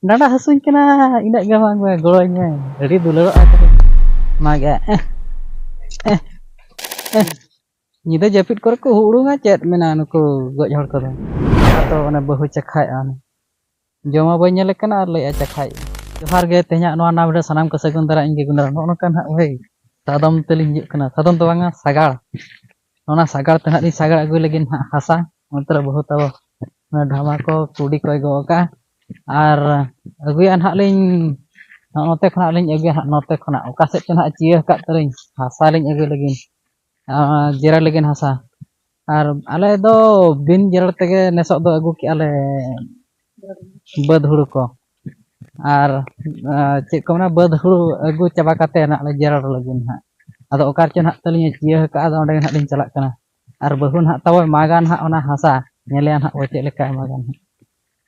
ᱰᱟᱸᱰᱟ ᱦᱟᱹᱥᱩᱧ ᱠᱟᱱᱟ ᱤᱱᱟᱹᱜ ᱜᱮ ᱵᱟᱝ ᱜᱚᱲᱚᱧ ᱢᱮ ᱟᱹᱰᱤ ᱫᱩᱞᱟᱹᱲᱚᱜ ᱟᱭ ᱛᱟᱵᱚᱱ ᱚᱱᱟᱜᱮ ᱧᱤᱫᱟᱹ ᱡᱟᱹᱯᱤᱫ ᱠᱚᱨᱮ ᱠᱚ ᱦᱩᱲᱩᱝᱟ ᱪᱮᱫ ᱢᱮᱱᱟᱜᱼᱟ ᱱᱩᱠᱩ ᱜᱚᱡ ᱦᱚᱲ ᱠᱚᱫᱚ ᱛᱚ ᱚᱱᱮ ᱵᱟᱹᱦᱩ ᱪᱟᱠᱷᱟᱭᱮᱫᱼᱟ ᱚᱱᱮ ᱡᱚᱢᱟ ᱵᱟᱹᱧ ᱧᱮᱞᱮ ᱠᱟᱱᱟ ᱟᱨ ᱞᱟᱹᱭᱮᱫᱼᱟ ᱪᱟᱠᱷᱟᱭ ᱡᱚᱦᱟᱨ ᱜᱮ ᱛᱮᱦᱮᱧᱟᱜ ᱱᱚᱣᱟ ᱱᱟᱣᱟ ᱵᱷᱤᱰᱤᱭᱳ ᱥᱟᱱᱟᱢ ᱠᱚ ᱥᱟᱹᱜᱩᱱ ᱫᱟᱨᱟ ᱤᱧ ᱜᱮ ᱜᱩᱱᱫᱟᱨᱟ ᱱᱚᱜᱼᱚ ᱱᱚᱝᱠᱟ ᱱᱟᱦᱟᱜ ᱵᱷᱟᱹᱭ ᱥᱟᱫᱚᱢ ᱛᱮᱞᱤᱧ ᱦᱤᱡᱩᱜ ᱠᱟᱱᱟ ᱥᱟᱫᱚᱢ ᱫᱚ ᱵᱟᱝᱟ ᱥᱟᱜᱟᱲ ᱚᱱᱟ ᱥᱟᱜᱟᱲ ᱛᱮ ᱱᱟᱦᱟᱜ ᱞᱤᱧ ᱥᱟᱜᱟᱲ ᱟᱹᱜᱩᱭ ᱞᱟᱹᱜᱤᱫ ᱱᱟᱦᱟᱜ ᱦᱟᱥᱟ ᱚᱱᱛᱮ ᱨᱮ ᱵᱟᱹᱦᱩ ᱛᱟᱵᱚ ᱰᱷᱟᱢᱟ ᱠᱚ ᱠᱩᱰᱤ ᱠᱚᱭ ᱜᱚᱜ ᱟᱠᱟᱫᱼᱟ ᱟᱨ ᱟᱹᱜᱩᱭᱟ ᱱᱟᱦᱟᱜ ᱞᱤᱧ ᱱᱚᱛᱮ ᱠᱷᱚᱱᱟᱜ ᱞᱤᱧ ᱟᱹᱜᱩᱭᱟ ᱱᱟᱦᱟᱜ ᱱᱚᱛᱮ ᱠᱷᱚᱱᱟᱜ ᱚᱠᱟ ᱥᱮᱫ ᱛᱮ ᱱᱟᱦᱟᱜ ᱪᱤᱭᱟᱹ ᱟᱠᱟᱫ ᱛᱟᱹᱞᱤᱧ ᱦᱟᱥᱟ ᱞᱤᱧ ᱟᱹᱜᱩᱭ ᱞᱟᱹᱜᱤᱫ ᱟᱨ ᱡᱮᱨᱮᱲ ᱞᱟᱹᱜᱤᱫ ᱦᱟᱥᱟ ᱟᱨ ᱟᱞᱮ ᱫᱚ ᱵᱤᱱ ᱡᱮᱨᱮᱲ ᱛᱮᱜᱮ ᱱᱮᱥᱚᱜ ᱫᱚ ᱟᱹᱜᱩ ᱠᱮᱫᱼᱟ ᱞᱮ ᱵᱟᱹᱫᱽ ᱦᱩᱲᱩ ᱠᱚ ᱟᱨ ᱪᱮᱫ ᱠᱚ ᱢᱮᱱᱟ ᱵᱟᱹᱫᱽ ᱦᱩᱲᱩ ᱟᱹᱜᱩ ᱪᱟᱵᱟ ᱠᱟᱛᱮ ᱦᱟᱸᱜ ᱞᱮ ᱡᱮᱨᱮᱲ ᱞᱟᱹᱜᱤᱫ ᱦᱟᱸᱜ ᱟᱫᱚ ᱚᱠᱟ ᱨᱮᱪᱚ ᱦᱟᱸᱜ ᱛᱟᱹᱞᱤᱧ ᱪᱤᱭᱟᱹ ᱠᱟᱜᱼᱟ ᱟᱫᱚ ᱚᱸᱰᱮ ᱦᱟᱸᱜ ᱞᱤᱧ ᱪᱟᱞᱟᱜ ᱠᱟᱱᱟ ᱟᱨ ᱵᱟᱹᱦᱩ ᱦᱟᱸᱜ ᱛᱟᱵᱚ ᱢᱟᱜᱟ ᱦᱟᱸᱜ ᱚᱱᱟ ᱦᱟᱥᱟ ᱧᱮᱞᱮᱭᱟ ᱦᱟᱸᱜ ᱵᱚᱱ ᱪᱮᱫ ᱞᱮᱠᱟᱭ ᱢᱟᱜᱟ ᱦᱟᱸᱜ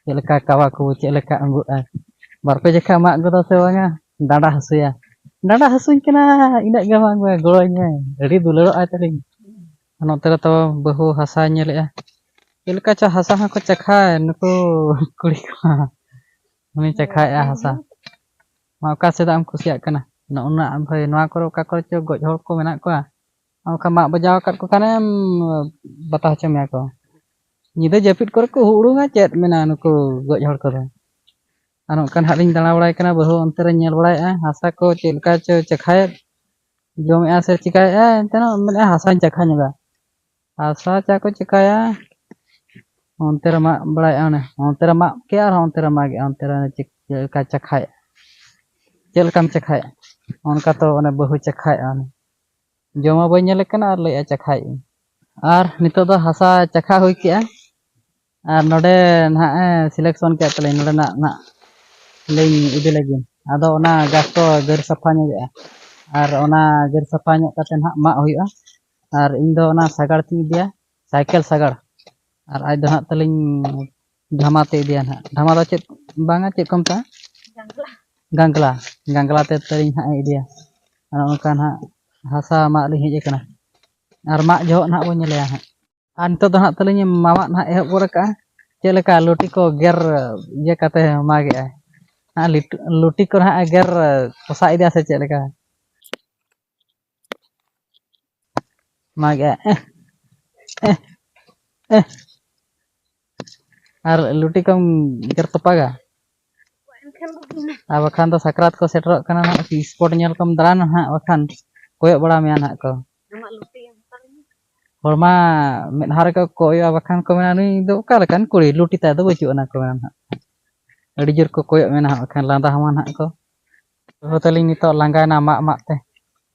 ᱪᱮᱫ ᱞᱮᱠᱟ ᱠᱟᱣᱟ ᱠᱚ ᱪᱮᱫ ᱞᱮᱠᱟ ᱟᱹᱜᱩᱜᱼᱟ ᱵᱟᱨ ᱯᱮ ᱡᱚᱠᱷᱟ ᱢᱟᱜ ᱜᱚᱫᱟ ᱥᱮ ᱵᱟᱝᱟ ᱰᱟᱸᱰᱟ ᱦᱟᱹᱥᱩᱭᱟ ᱰᱟᱸᱰᱟ ᱦᱟᱹᱥᱩᱧ ᱠᱟᱱᱟ ᱤᱱᱟᱹᱜ ᱜᱮ ᱵᱟᱝ ᱜᱚᱲᱚ ᱟᱹᱧ ᱢᱮ ᱟᱹᱰᱤ ᱫᱩᱞᱟᱹᱲᱚᱜ ᱟᱭ ᱛᱟᱹᱞᱤᱧ ᱟᱨ ᱱᱚᱛᱮ ᱨᱮ ᱛᱚ ᱵᱟᱹᱦᱩ ᱦᱟᱥᱟᱭ ᱧᱮᱞᱮᱜᱼᱟ ᱪᱮᱫ ᱞᱮᱠᱟ ᱪᱚ ᱦᱟᱥᱟ ᱦᱚᱸᱠᱚ ᱪᱟᱠᱷᱟᱭ ᱱᱩᱠᱩ ᱠᱩᱲᱤ ᱠᱚ ᱩᱱᱤ ᱪᱟᱠᱷᱟᱭᱮᱜᱼᱟ ᱦᱟᱥᱟ ᱢᱟ ᱚᱠᱟ ᱥᱮᱫᱟᱜ ᱮᱢ ᱠᱩᱥᱤᱭᱟᱜ ᱠᱟᱱᱟ ᱱᱚᱜᱼᱱᱟ ᱵᱷᱟᱹᱭ ᱱᱚᱣᱟ ᱠᱚᱨᱮ ᱚᱠᱟ ᱠᱚᱨᱮ ᱪᱚ ᱜᱚᱡ ᱦᱚᱲ ᱠᱚ ᱢᱮᱱᱟᱜ ᱠᱚᱣᱟ ᱚᱱᱠᱟ ᱢᱟᱜ ᱵᱟᱡᱟᱣ ᱟᱠᱟᱫ ᱠᱚ ᱠᱷᱟᱱᱮᱢ ᱵᱟᱛᱟ ᱦᱚᱪᱚ ᱢᱮᱭᱟ ᱠᱚ ᱧᱤᱫᱟᱹ ᱡᱟᱹᱯᱤᱫ ᱠᱚᱨᱮ ᱠᱚ ᱩᱲᱩᱝᱟ ᱪᱮᱫ ᱢᱮᱱᱟᱜᱼᱟ ᱱᱩᱠᱩ ᱜᱚᱡ ᱦᱚᱲ ᱠᱚᱫᱚ ᱟᱨ ᱚᱱᱠᱟ ᱱᱟᱦᱟᱜ ᱞᱤᱧ ᱫᱟᱬᱟ ᱵᱟᱲᱟᱭ ᱠᱟᱱᱟ ᱵᱟᱹᱦᱩ ᱚᱱᱛᱮ ᱨᱮ ᱧᱮᱞ ᱵᱟᱲᱟᱭᱮᱜᱼᱟ ᱦᱟᱥᱟ ᱠᱚ ᱪᱮᱫ ᱞᱮᱠᱟ ᱪᱚ ᱪᱟᱠᱷᱟᱭᱮᱫ ᱡᱚᱢᱮᱜᱼᱟ ᱥᱮ ᱪᱤᱠᱟᱭᱮᱜᱼᱟ ᱮᱱᱛᱮ ᱢᱮᱱᱮᱫᱼᱟ ᱦᱟᱥᱟᱧ ᱪᱟᱠᱷᱟ ᱧᱚᱜᱟ ᱦᱟᱥᱟ ᱪᱟ ᱠᱚ ᱪᱤᱠᱟᱭᱟ ᱚᱱᱛᱮ ᱨᱮ ᱢᱟᱜ ᱵᱟᱲᱟᱭᱮᱜᱼᱟ ᱚᱱᱮ ᱚᱱᱛᱮ ᱨᱮ ᱢᱟᱜ ᱠᱮᱜᱼᱟ ᱟᱨ ᱚᱱᱛᱮ ᱨᱮ ᱢᱟᱜᱮᱜᱼᱟ ᱚᱱᱛᱮ ᱨᱮ ᱪᱮᱫ ᱞᱮᱠᱟ ᱪᱟᱠᱷᱟᱭᱮᱜᱼᱟ ᱪᱮᱫ ᱞᱮᱠᱟᱢ ᱪᱟᱠᱷᱟᱭᱟ ᱚᱱᱠᱟ ᱛᱚ ᱚᱱᱮ ᱵᱟᱹᱦᱩ ᱪᱟᱠᱷᱟᱭᱮᱜᱼᱟ ᱚᱱᱮ ᱡᱚᱢᱟ ᱵᱟᱹᱧ ᱧᱮᱞᱮ ᱠᱟᱱᱟ ᱟᱨ ᱞᱟᱹᱭᱮᱜᱼᱟ ᱪᱟᱠᱷᱟᱭᱮᱜᱼᱟᱹᱧ ᱟᱨ ᱱᱤᱛᱚᱜ ᱫᱚ ᱦᱟᱥᱟ ᱪᱟᱠᱷᱟ ᱦᱩᱭ ᱠᱮᱜᱼᱟ ᱟᱨ ᱱᱚᱰᱮ ᱱᱟᱦᱟᱜ ᱮ ᱥᱤᱞᱮᱠᱥᱚᱱ ᱠᱮᱫ ᱛᱟᱹᱞᱤᱧ ᱱᱚᱰᱮᱱᱟᱜ ᱱᱟᱦᱟᱜ ᱞᱤᱧ ᱤᱫᱤ ᱞᱟᱹᱜᱤᱫ ᱟᱫᱚ ᱚᱱᱟ ᱜᱷᱟᱥ ᱠᱚ ᱜᱮᱨ ᱥᱟᱯᱷᱟ ᱧᱚᱜᱮᱜᱼᱟ ᱟᱨ ᱚᱱᱟ ᱜᱮᱨ ᱥᱟᱯᱷᱟ ᱧᱚᱜ ᱠᱟᱛᱮᱫ ᱱᱟᱦᱟᱜ ᱢᱟᱜ ᱦᱩᱭᱩᱜᱼᱟ ᱟᱨ ᱤᱧ ᱫᱚ ᱚᱱᱟ ᱥᱟᱜᱟᱲ ᱛᱤᱧ ᱤᱫᱤᱭᱟ ᱥᱟᱭᱠᱮᱞ ᱥᱟᱜᱟᱲ ᱟᱨ ᱟᱡ ᱫᱚ ᱱᱟᱦᱟᱜ ᱛᱟᱹᱞᱤᱧ ᱰᱷᱟᱢᱟ ᱛᱮ ᱤᱫᱤᱭᱟ ᱱᱟᱦᱟᱜ ᱰᱷᱟᱢᱟ ᱫᱚ ᱪᱮᱫ ᱵᱟᱝᱟ ᱪᱮᱫ ᱠᱚ ᱢᱮᱛᱟᱜᱼᱟ ᱜᱟᱝᱜᱽᱞᱟ ᱜᱟᱝᱜᱽᱞᱟ ᱛᱮ ᱛᱟᱹᱞᱤᱧ ᱱᱟᱦᱟᱜ ᱮ ᱤᱫᱤᱭᱟ ᱟᱨ ᱚᱱᱠᱟ ᱱᱟᱦᱟᱜ ᱦᱟᱥᱟ ᱢᱟᱜ ᱞᱤᱧ ᱦᱮᱡ ᱟᱠᱟᱱᱟ ᱟᱨ ᱢᱟᱜ ᱡᱚᱦᱚᱜ ᱱᱟᱦᱟᱜ ᱵᱚᱱ ᱧᱮᱞᱮᱭᱟ ᱱᱟᱦᱟᱜ ᱟᱨ ᱱᱤᱛᱚᱜ ᱫᱚ ᱦᱟᱸᱜ ᱛᱟᱹᱞᱤᱧ ᱢᱟᱢᱟᱜ ᱱᱟᱦᱟᱜ ᱮᱦᱚᱵ ᱜᱚᱫ ᱟᱠᱟᱜᱼᱟ ᱪᱮᱫ ᱞᱮᱠᱟ ᱞᱩᱴᱤ ᱠᱚ ᱜᱮᱨ ᱤᱭᱟᱹ ᱠᱟᱛᱮ ᱢᱟᱜᱮᱜᱼᱟᱭ ᱦᱟᱸᱜ ᱞᱤᱴᱩ- ᱞᱩᱴᱤ ᱠᱚ ᱱᱟᱦᱟᱜ ᱜᱮᱨ ᱯᱚᱥᱟ ᱤᱫᱤᱭᱟ ᱥᱮ ᱪᱮᱫ ᱞᱮᱠᱟ ᱢᱟᱜᱮᱜᱼᱟ ᱮᱸᱦ, ᱮᱸᱦ, ᱮᱸᱦ, ᱟᱨ ᱞᱩᱴᱤ ᱠᱚᱢ ᱜᱮᱨ ᱛᱚᱯᱟᱜᱟ ᱟᱨ ᱵᱟᱠᱷᱟᱱ ᱫᱚ ᱥᱟᱠᱨᱟᱛ ᱠᱚ ᱥᱮᱴᱮᱨᱚᱜ ᱠᱟᱱᱟ ᱱᱟᱦᱟᱜ ᱥᱯᱚᱴ ᱧᱮᱞ ᱠᱚᱢ ᱫᱟᱬᱟᱱᱟ ᱱᱟᱦᱟᱜ ᱵᱟᱠᱷᱟᱱ ᱠᱚᱭᱚᱜ ᱵᱟᱲᱟ ᱢᱮᱭᱟ ᱱᱟᱦᱟᱜ ᱠᱚ ᱦᱚᱲ ᱢᱟ ᱢᱮᱫᱦᱟ ᱨᱮᱠᱚ ᱠᱚᱭᱚᱜᱼᱟ ᱵᱟᱠᱷᱟᱱ ᱠᱚ ᱢᱮᱱᱟ ᱱᱩᱭ ᱫᱚ ᱚᱠᱟ ᱞᱮᱠᱟᱱ ᱠᱩᱲᱤ ᱞᱩᱴᱤ ᱛᱟᱭ ᱫᱚ ᱵᱟᱹᱪᱩᱜ ᱟᱱᱟ ᱠᱚ ᱢᱮᱱᱟ ᱱᱟᱦᱟᱜ ᱟᱹᱰᱤ ᱡᱳᱨ ᱠᱚ ᱠᱚᱭᱚᱜ ᱢᱮ ᱱᱟᱦᱟᱜ ᱵᱟᱠᱷᱟᱱ ᱞᱟᱸᱫᱟ ᱦᱟᱢᱟ ᱱᱟᱦᱟᱜ ᱠᱚ ᱵᱟᱹᱦᱩ ᱛᱟᱹᱞᱤᱧ ᱱᱤᱛᱚᱜ ᱞᱟᱸᱜᱟᱭᱮᱱᱟ ᱢᱟᱜ ᱢᱟᱜ ᱛᱮ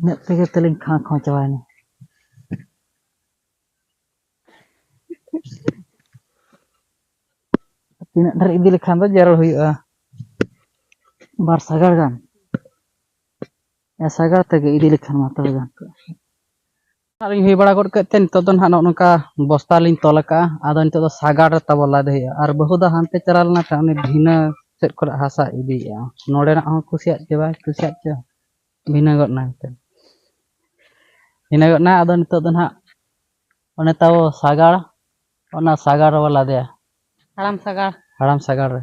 ᱤᱱᱟᱹᱜ ᱛᱮᱜᱮ ᱛᱟᱹᱞᱤᱧ ᱠᱷᱟᱸ ᱠᱷᱚᱸ ᱪᱟᱵᱟᱭᱮᱱᱟ ᱛᱤᱱᱟᱹᱜ ᱰᱷᱮᱨ ᱤᱫᱤ ᱞᱮᱠᱷᱟᱱ ᱫᱚ ᱡᱟᱨᱚᱲ ᱦᱩᱭᱩᱜᱼᱟ ᱵᱟᱨ ᱥᱟᱜᱟᱲ ᱜᱟᱱ ᱥᱟᱜᱟᱲ ᱛᱮᱜᱮ ᱤᱫᱤ ᱞᱮᱠᱷᱟᱱ ᱢᱟ ᱛᱚᱵᱮ ᱜᱟᱱ ᱠᱚᱜᱼᱟ ᱟᱨ ᱦᱩᱭ ᱵᱟᱲᱟ ᱜᱚᱫ ᱠᱮᱫ ᱛᱮ ᱱᱤᱛᱚᱜ ᱫᱚ ᱱᱟᱦᱟᱜ ᱱᱚᱜᱼᱚ ᱱᱚᱝᱠᱟ ᱵᱚᱥᱛᱟ ᱞᱤᱧ ᱛᱚᱞ ᱟᱠᱟᱜᱼᱟ ᱟᱫᱚ ᱱᱤᱛᱚᱜ ᱫᱚ ᱥᱟᱜᱟᱲ ᱨᱮ ᱛᱟᱵᱚ ᱞᱟᱫᱮ ᱦᱩᱭᱩᱜᱼᱟ ᱟᱨ ᱵᱟᱹᱦᱩ ᱫᱚ ᱦᱟᱱᱛᱮ ᱪᱟᱞᱟᱣ ᱞᱮᱱᱟ ᱠᱷᱟᱱ ᱩᱱᱤ ᱵᱷᱤᱱᱟᱹ ᱥᱮᱫ ᱠᱚᱨᱮ ᱦᱟᱥᱟ ᱤᱫᱤᱭᱮᱜᱼᱟ ᱱᱚᱰᱮᱱᱟᱜ ᱦᱚᱸ ᱠᱩᱥᱤᱭᱟᱜ ᱪᱮ ᱵᱟᱭ ᱠᱩᱥᱤᱭᱟᱜ ᱪᱮ ᱵᱷᱤᱱᱟᱹ ᱜᱚᱫ ᱱᱟᱭ ᱛᱮ ᱵᱷᱤᱱᱟᱹ ᱜᱚᱫ ᱱᱟᱭ ᱟᱫᱚ ᱱᱤᱛᱚᱜ ᱫᱚ ᱱᱟᱦᱟᱜ ᱚᱱᱮ ᱛᱟᱵᱚ ᱥᱟᱜᱟᱲ ᱚᱱᱟ ᱥᱟᱜᱟᱲ ᱨᱮᱵᱚ ᱞᱟᱫᱮᱭᱟ ᱦᱟᱲᱟᱢ ᱥᱟᱜᱟᱲ ᱦᱟᱲᱟᱢ ᱥᱟᱜᱟᱲ ᱨᱮ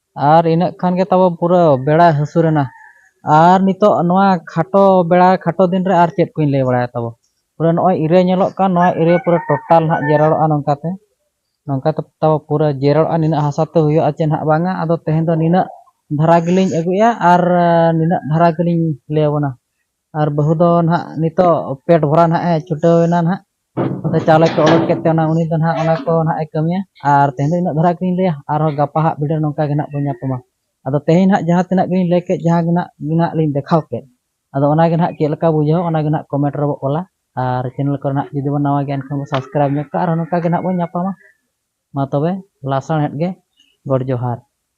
ᱟᱨ ᱤᱱᱟᱹᱜ ᱠᱷᱟᱱ ᱜᱮ ᱛᱟᱵᱚ ᱯᱩᱨᱟᱹ ᱵᱮᱲᱟ ᱦᱟᱹᱥᱩᱨ ᱮᱱᱟ ᱟᱨ ᱱᱤᱛᱚᱜ ᱱᱚᱣᱟ ᱠᱷᱟᱴᱚ ᱵᱮᱲᱟ ᱠᱷᱟᱴᱚ ᱫᱤᱱ ᱨᱮ ᱟᱨ ᱪᱮᱫ ᱠᱚᱧ ᱞᱟᱹᱭ ᱵᱟᱲᱟᱭᱟ ᱛᱟᱵᱚ ᱯᱩᱨᱟᱹ ᱱᱚᱜᱼᱚᱭ ᱤᱨᱟᱹ ᱧᱮᱞᱚᱜ ᱠᱟᱱ ᱱᱚᱣᱟ ᱤᱨᱟᱹ ᱯᱩᱨᱟᱹ ᱴᱳᱴᱟᱞ ᱱᱟᱦᱟᱜ ᱡᱮᱨᱮᱲᱚᱜᱼᱟ ᱱᱚᱝᱠᱟᱛᱮ ᱱᱚᱝᱠᱟᱛᱮ ᱛᱟᱵᱚ ᱯᱩᱨᱟᱹ ᱡᱮᱨᱮᱲᱚᱜᱼᱟ ᱱᱤᱱᱟᱹᱜ ᱦᱟᱥᱟ ᱛᱮ ᱦᱩᱭᱩᱜᱼᱟ ᱪᱮ ᱱᱟᱦᱟᱜ ᱵᱟᱝᱟ ᱟᱫᱚ ᱛᱮᱦᱮᱧ ᱫᱚ ᱱᱤᱱᱟᱹᱜ ᱫᱷᱟᱨᱟ ᱜᱮᱞᱤᱧ ᱟᱹᱜᱩᱭᱮᱫᱼᱟ ᱟᱨ ᱱᱤᱱᱟᱹᱜ ᱫᱷᱟᱨᱟ ᱜᱮᱞᱤᱧ ᱞᱟᱹᱭ ᱟᱵᱚᱱᱟ ᱟᱨ ᱵᱟᱹᱦᱩ ᱫᱚ ᱱᱟᱦᱟᱜ ᱱᱤᱛᱚᱜ ᱯᱮᱴ ᱵᱷᱚᱨᱟᱣ ᱱᱟᱦᱟᱜ ᱮ ᱪᱷᱩᱴᱟᱹᱣ ᱮᱱᱟ ᱱᱟᱦᱟᱜ ᱟᱫᱚ ᱪᱟᱣᱞᱮ ᱠᱚ ᱚᱰᱚᱠ ᱠᱮᱫ ᱛᱮ ᱚᱱᱟ ᱩᱱᱤ ᱫᱚ ᱱᱟᱦᱟᱜ ᱚᱱᱟ ᱠᱚ ᱱᱟᱦᱟᱜ ᱮ ᱠᱟᱹᱢᱤᱭᱟ ᱟᱨ ᱛᱮᱦᱮᱧ ᱫᱚ ᱤᱱᱟᱹᱜ ᱫᱷᱟᱨᱟ ᱜᱮᱞᱤᱧ ᱞᱟᱹᱭᱟ ᱟᱨᱦᱚᱸ ᱜᱟᱯᱟ ᱦᱟᱸᱜ ᱵᱷᱤᱰᱤᱭᱳ ᱱᱚᱝᱠᱟ ᱜᱮ ᱱᱟᱦᱟᱜ ᱵᱚᱱ ᱧᱟᱯᱟᱢᱟ ᱟᱫᱚ ᱛᱮᱦᱮᱧ ᱱᱟᱦᱟᱜ ᱡᱟᱦᱟᱸ ᱛᱤᱱᱟᱹᱜ ᱜᱮᱞᱤᱧ ᱞᱟᱹᱭ ᱠᱮᱫ ᱡᱟᱦᱟᱸ ᱜᱮ ᱱᱟᱦᱟᱜ ᱜᱮ ᱱᱟᱦᱟᱜ ᱞᱤᱧ ᱫᱮᱠᱷᱟᱣ ᱠᱮᱫ ᱟᱫᱚ ᱚᱱᱟ ᱜᱮ ᱱᱟᱦᱟᱜ ᱪᱮᱫ ᱞᱮᱠᱟ ᱵᱩᱡᱷᱟᱹᱣ ᱚᱱᱟ ᱜᱮ ᱱᱟᱦᱟᱜ ᱠᱚᱢᱮᱱᱴ ᱨᱮᱵᱚ ᱚᱞᱟ ᱟᱨ ᱪᱮᱱᱮᱞ ᱠᱚᱨᱮ ᱱᱟᱦᱟᱜ ᱡᱩᱫᱤ ᱵᱚᱱ ᱱᱟᱣᱟ ᱜᱮᱭᱟ ᱮᱱᱠᱷᱟᱱ ᱵᱚᱱ ᱥᱟᱵᱥᱠᱨᱟᱭᱤᱵᱽ ᱧᱚᱜ ᱠᱟᱜᱼᱟ ᱟᱨᱦᱚᱸ ᱱᱚᱝᱠᱟ ᱜᱮ ᱱᱟᱦᱟᱜ ᱵᱚᱱ ᱧᱟᱯᱟᱢᱟ ᱢᱟ ᱛᱚᱵᱮ ᱞᱟᱥᱟᱬᱦᱮᱫ ᱜᱮ ᱜᱚᱰ ᱡᱚᱦᱟᱨ